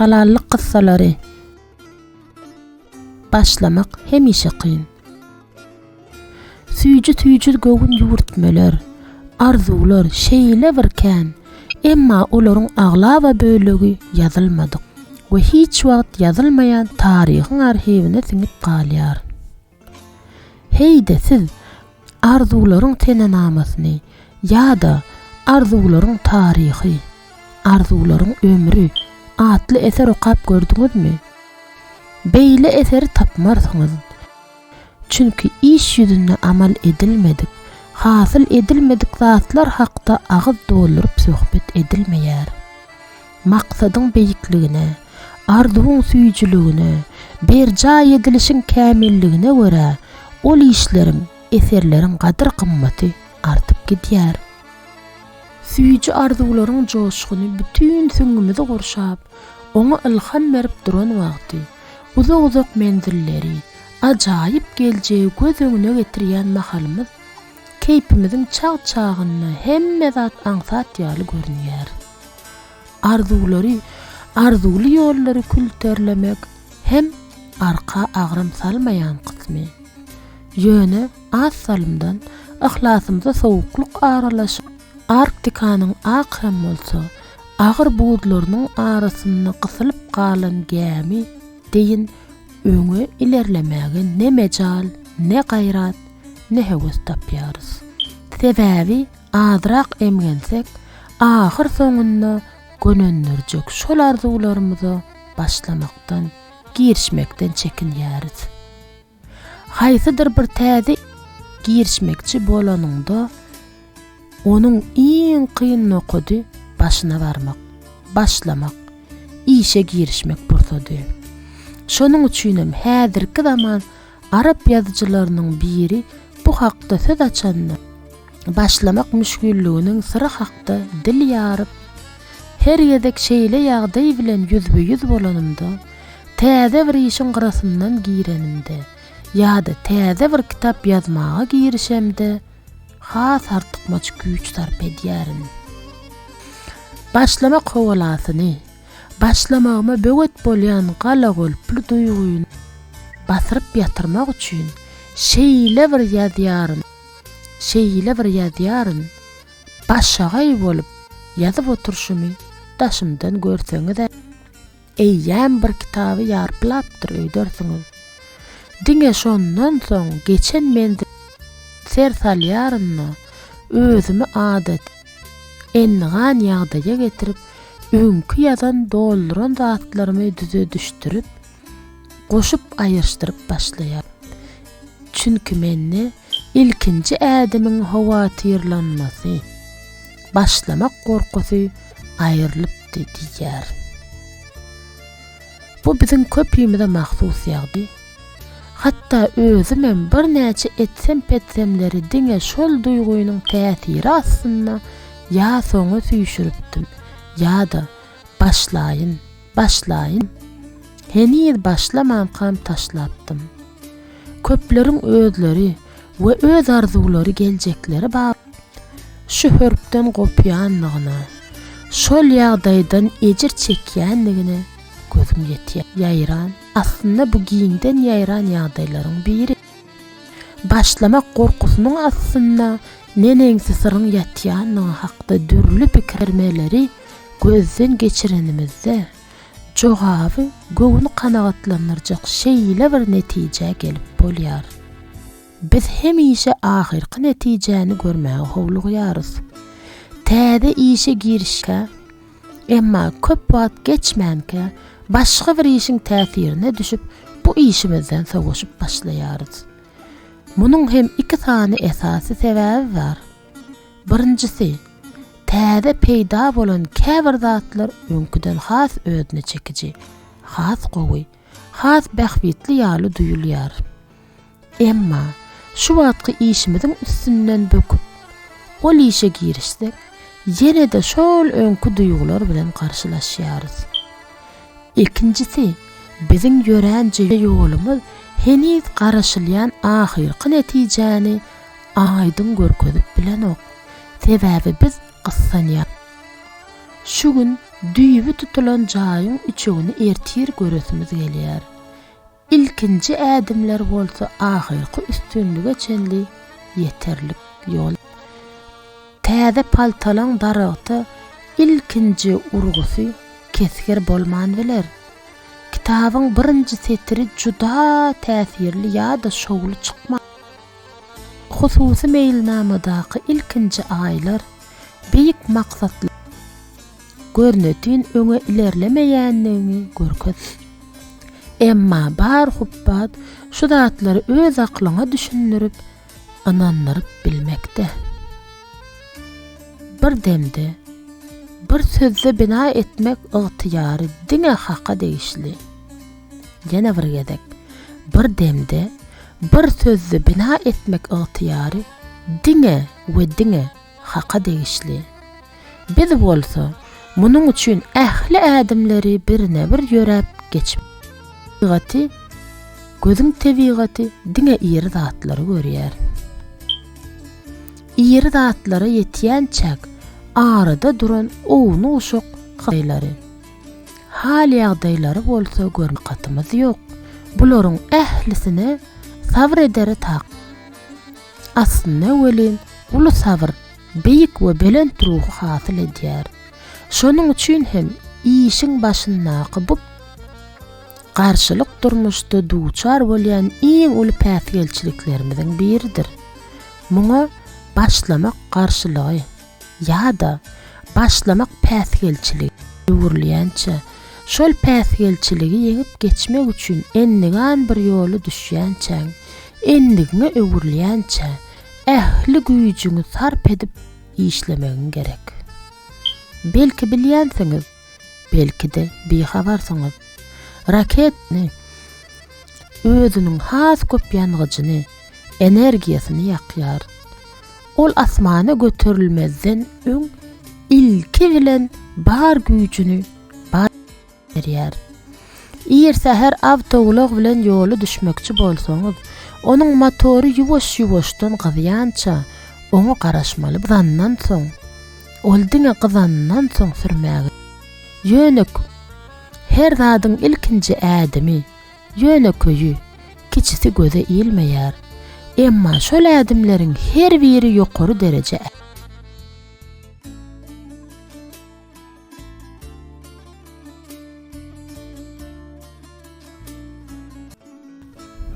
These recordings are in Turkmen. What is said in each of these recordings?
Halallyk gyssalary Başlamak hemişe kyn. Süýji-tüýji göwün ýüwürtmeler, arzuwlar şeýle bir kän, emma olaryň aglaba bölegi ýazylmadyk we hiç wagt ýazylmaýan taryhyň arhiwine siňip galýar. Heý-de siz Arzuwlaryň senenamasyny ýa-da Arzuwlaryň taryhy, Arzuwlaryň ömri atly eser okap gördüňizmi? Beýle eseri tapmarsyňyz. Çünki iş ýüzünde amal edilmedik, hasyl edilmedik zatlar hakda agyz dolduryp söhbet edilmeýär. Maksadyň beýikligine, arzuwyň süýjüligine, berjaý edilişiň kämilligine görä, ol işleriň, eserleriň gadyr-gymmaty artyp gidýär. Süýji arzuwlaryň joşguny bütin süňňümizi gurşap, oňa ylham berip duran wagty, uzak-uzak menzilleri, ajaýyp geljegi göz öňüne getirýän mahalymyz, Keýpimiziň çag-çagynda hemme zat aňsat ýaly görünýär. Arzuwlary, arzuwly ýollary külterlemek hem arka agram salmaýan kysmy. Ýöne az salymdan yhlasymyza sowuklyk aralaşyp, Arktikanyň ak hem bolsa agyr buzlarynyň arasynda gysylyp galan gämi deýin öňe ilerlemäge ne mejal, ne gaýrat, ne höwes tapýarys. Sebäbi azrak emgensek, ahyrsoňunda gönendirjek şol arzuwlarymyza başlamakdan, girişmekden çekinýäris. Haýsydyr bir täze girişmekçi bolanyňda, onuň iň kyn nokady başyna barmak, başlamak, işe girişmek pursady. Şonuň üçinem häzirki zaman Arap ýazyjylarynyň biri bu hakda söz açanda, başlamak müşgilliginiň syry hakda dil ýaryp, Her gezek şeýle ýagdaý bilen ýüzbe-ýüz bolanymda, täze bir işiň gyrasyndan girenimde ýa-da täze bir kitap ýazmaga girişemde has artykmaç güýç sarp edýärin. Başlamak howalasyny, Başlamagyma böwet bolýan galagolply duýgyny basyryp ýatyrmak üçin şeýle bir ýazýaryn, şeýle bir ýazýaryn, başagaý bolup ýazyp oturyşymy daşymdan görseňiz-ä, eýýäm bir kitaby ýarplapdyr öýdersiňiz. Diňe şondan soň geçen menzilime ser salýaryn-da, özümi adaty, Endigan ýagdaýa getirip, öňki ýazan dolduran zatlarymy düzedişdirip, goşup aýyrşdyryp başlaýar. Çünki mende ilkinji ädimiň howatyrlanmasy, başlamak gorkusy aýrylypdy diýýär. Bu biziň köpimize mahsus ýagdy. Hatda özümem birnäçe etsem-petsemleri diňe şol duýgynyň täsiri astynda ýa soňa süýşüripdim, ýa-da, başlaýyn, başlaýyn, heniz başlamankam taşlapdym. Köpleriň özleri we öz arzuwlary geljekleri bap şu hörpden gopýanlygyna, şol ýagdaýdan ejir çekýänligine gözüm ýetýär. Ýaýran. Aslynda bu giňden ýaýran ýagdaýlaryň biri. Başlamak gorkusynyň astynda neneňsi syryň ýatýandygy hakda dürli pikirmeleri gözden geçirenimizde, jogaby göwni kanagatlandyrjak şeýle bir netijä gelip bolýar. Biz hemişe ahyrky netijäni görmäge howlugýarys. Täze işe girişkä Emma köp wagt geçmänkä başga bir işiň täsirine düşüp, bu işimizden sowaşyp başlaýarys. Munuň hem iki sany esasy sebäbi bar. Birinjisi, täze peýda bolan käbir zatlar öňküden has özüne çekiji, has gowy. has bähbitli ýaly duýulýar. Emma, şu wagtky işimiziň üstünden böküp, ol işe girişsek, ýene-de şol öňki duýgular bilen garşylaşýarys. Ikinjisi, biziň ýörän ýolumyz heniz garaşylýan ahyrky netijäni aýdyň görkezip bilenok. Sebäbi biz gyssanýar. Şu gün düýbi tutulan jaýyň üçegini ertir göresimiz gelýär. Ilkinji ädimler bolsa ahyrky üstünlige çenli ýeterlik ýol. Täze paltalaň daragta ilkinji urgusy kesgir bolman biler. Kitabyň birinji setiri juda täsirli ýa-da şowly çykmar. Hususy meýilnamadaky ilkinji aýlar beýik maksatly görnetin öňe ilerlemeýändigini görkez. Emma bar hupbat şu zatlary öz aklyňa düşündirip, ynandyryp bilmekde. Bir demde, bir sözde bina etmek ygtyýary diňe Haka degişli. Ýene bir gezek, bir demde, Bir sözde bina etmek ygtyýary diňe we diňe Haka degişli. Biz bolsa munuň üçin ähli ädimleri birine-bir ýöräp geçip, tebigaty, gözüň tebigaty diňe iri zatlary görýär. Iri zatlara ýetýänçäk arada duran ownuk-uşak hytaýlary. Hal-ýagdaýlary bolsa görmän takatymiz ýok. Bularyň ählisine sabyr edere tak. Aslynda welin, uly sabyr beýik we belent ruhy hasyl edýär. Şonuň üçin hem işiň başyndaky bu garşylyk durmuşda duçar bolýan iň uly päsgelçiliklerimiziň biridir. Muňa başlamak garşylygy. ýa-da başlamak päsgelçiligi öwrülýänçä, şol päsgelçiligi ýeňip geçmek üçin endigan bir ýoly düşýänçäň, endigiňe öwrülýänçä ähli güýjüňi sarp edip işlemegiň gerek. Belki bilýänsiňiz, Belki-de, bihabarsyňyz. Raketni özüniň has köp ýangyjyny, energiýasyny ýakýar. Ol asmana göterilmezden öň ilki bilen bar güýjüni berýär. Ir säher awtoulag bilen ýola düşmekçi bolsaňyz, onuň motory ýuwaş-ýuwaşdan gyzýança oňa garaşmaly. Zandan soň, Ol diňe gyzandan soň sürmäge. Ýönek, Her zadyň ilkinji ädimi, ýönekeýi, kiçisi göze ilmeýär. Emma şol ädimleriň her biri ýokary dereje.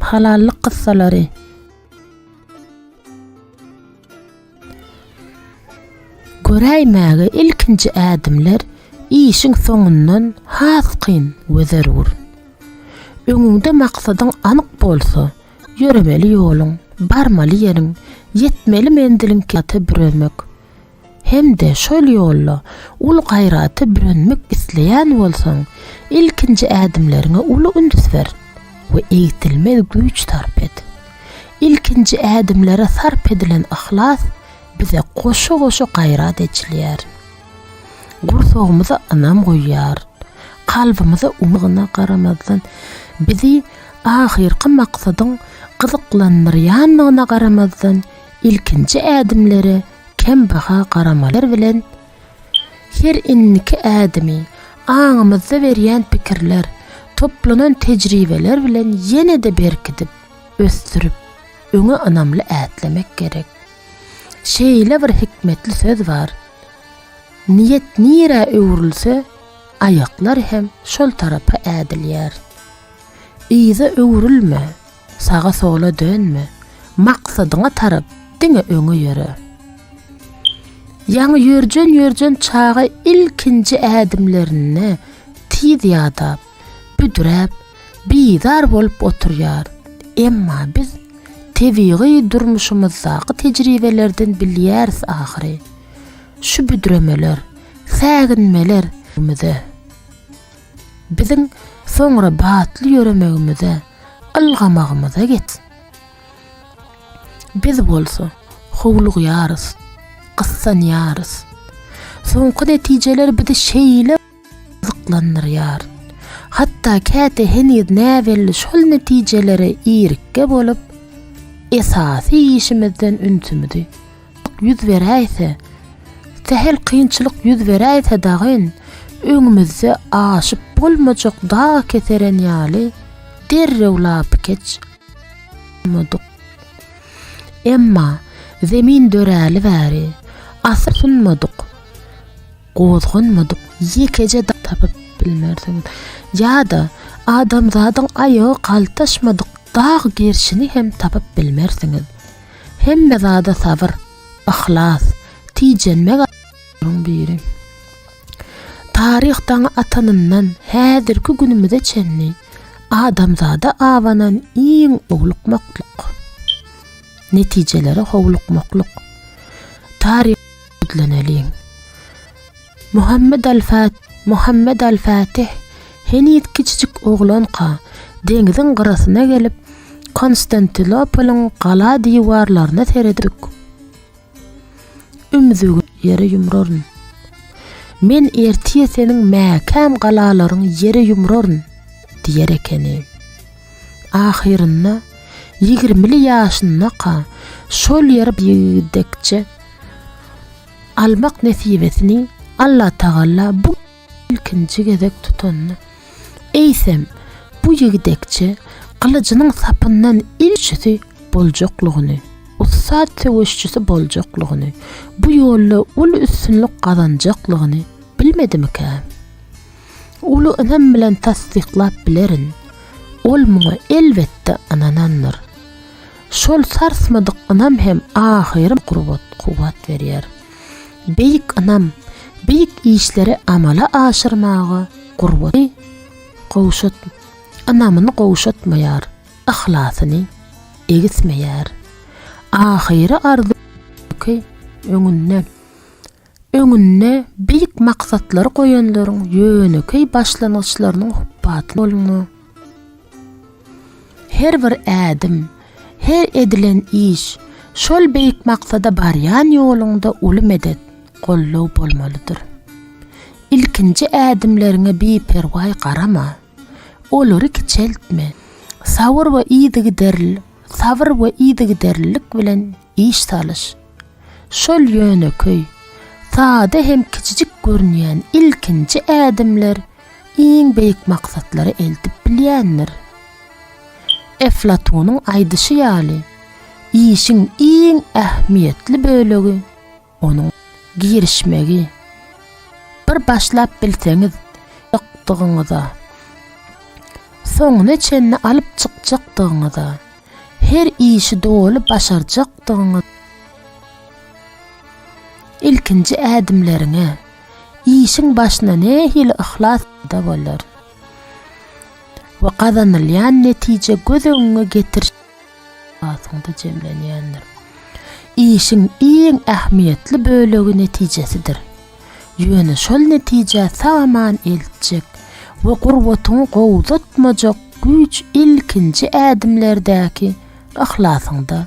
Halallyk gyssalary. Göräýmäge ilkinji ädimler işiň soňundan has kyn we zerur. Öňüňde maksadyň anyk bolsa, ýöremeli ýoluň, barmaly ýeriň, ýetmeli menziliň kynata büremek hem-de şol ýolda uly gaýrata bürenmek isleýän bolsaň, ilkinji ädimleriňe uly üns ber we egsilmez güýç sarp et. Ilkinji ädimlere sarp edilen yhlas bize goşa-goşa gaýrat eçilýär. Gursagymyza ynam guýýar. Kalbymyza umydyna garamazdan, bizi ahyrky maksadyň gyzyklandyrýandygyna garamazdan, ilkinji ädimlere kem baha garamalar bilen, her indiki ädimi, aňymyzda berýän pikirler, toplanan tejribeler bilen ýene-de berkidip, ösdürip, öňe ynamly ätlemek gerek. Şeýle bir hikmetli söz bar, Niýet nirä öwrülse, aýaklar hem şol tarapa ädilýär. Yza öwrülme, saga-sola dönme, maksadyňa tarap diňe öňe ýöre. Ýaňy ýörjen-ýörjen çaga ilkinji ädimlerinde tiz ýadap, büdräp, bizar bolup oturýar. Emma biz tebigy durmuşymyzdaky tejribelerden bilýäris ahyry, şu büdremeler, säginmeler bize, biziň soňra batly ýöremegimize, ylgamagymyza get. Biz bolsa howlugýarys, gyssanýarys. Soňky netijeler bizi şeýle. gyzyklandyrýar. Hatda käte heniz näbelli şol netijelere irikge bolup, esasy işimizden ünsümizi ýüz beräýse, sähel kynçylyk ýüz beräýse dagyn, öňümizde aşyp bolmajak dag keseren ýaly derrew lapykeç bolmadyk. Emma Zemin döräli bäri, asla synmadyk. Gozganmadyk ýekeje dag tapyp bilmersiňiz. Ýa-da adamzadyň aýagy galtaşmadyk dag gerşini hem tapyp bilmersiňiz. Hemme zada sabyr, yhlas, tijenmek aýaklaryň biri. Taryh daňy atanyndan häzirki günümize çenli adamzada abanan iň owlukmaklyk, netijelere howlukmaklyk, taryh Gizleneliň. Muhammet al-Fat, Muhammet al-Fatih heniz kiçijik oglanka, deňziň gyrasyna gelip, Konstantinopolyň gala diwarlaryna seredip, ümzügini ýere ýumraryn. Men ertir seniň mäkäm galalaryňy ýere ýumraryn! diýer ekeni. Ahyrynda, ýigrimili ýaşyndaka, şol ýere ýetdikçe, almak nesibesini Allatagala bu ilkinji gezek tutanda, eýsem, bu ýigdekçe gylyjynyň sapyndan ilçisi boljaklygyny, ussat söweşçisi boljaklygyny, bu ýolda uly üstünlik gazanjaklygyny bilmedimikä? Uly ynam bilen tassyklap bilerin, ol muňa elbetde ynanandyr. Şol sarsmadyk ynam hem ahyrym gurbat, kuwwat berýär. Beýik ynam, beýik işleri amala aşyrmaga gurbaty gowşut, ynamyny gowşatmaýar, yhlasyny egismeýär. Ahyry arzuw ki öňünde. öňünde beýik maksatlary goýanlaryň ýönekeý başlangyçlarynyň hupbaty bolma. Her bir ädim, her edilen iş şol beýik maksada barýan ýoluňda uly medet, goldaw bolmalydyr. Ilkinji ädimleriňe biperwaý garama. Olary kiçeltme. Sabyr we yzygiderlilik bilen Iş salyş. Şol ýönekeý, sada hem kiçijik görünýän ilkinji ädimler iň beýik maksatlary eltip bilýändir. Eflatunyň aýdyşy ýaly, işiň iň ähmiýetli bölegi, Onuň girişmegi bir başlap bilseňiz ýykdygyňyza, soňuna çenli alyp çykjakdygyňyza, her işi doly başarjakdygyňyz, ilkinji ädimleriňe, işiň başyna nähili yhlas peda bolar we gazanylýan netije göz öňüňe getirişiň. esasynda jemlenýändir. Işiň iň ähmiýetli bölegi netijesidir. Ýöne şol netijä sag-aman eltjek we gurbatyňy gowzatmajak güýç ilkinji ädimlerdäki yhlasyňda.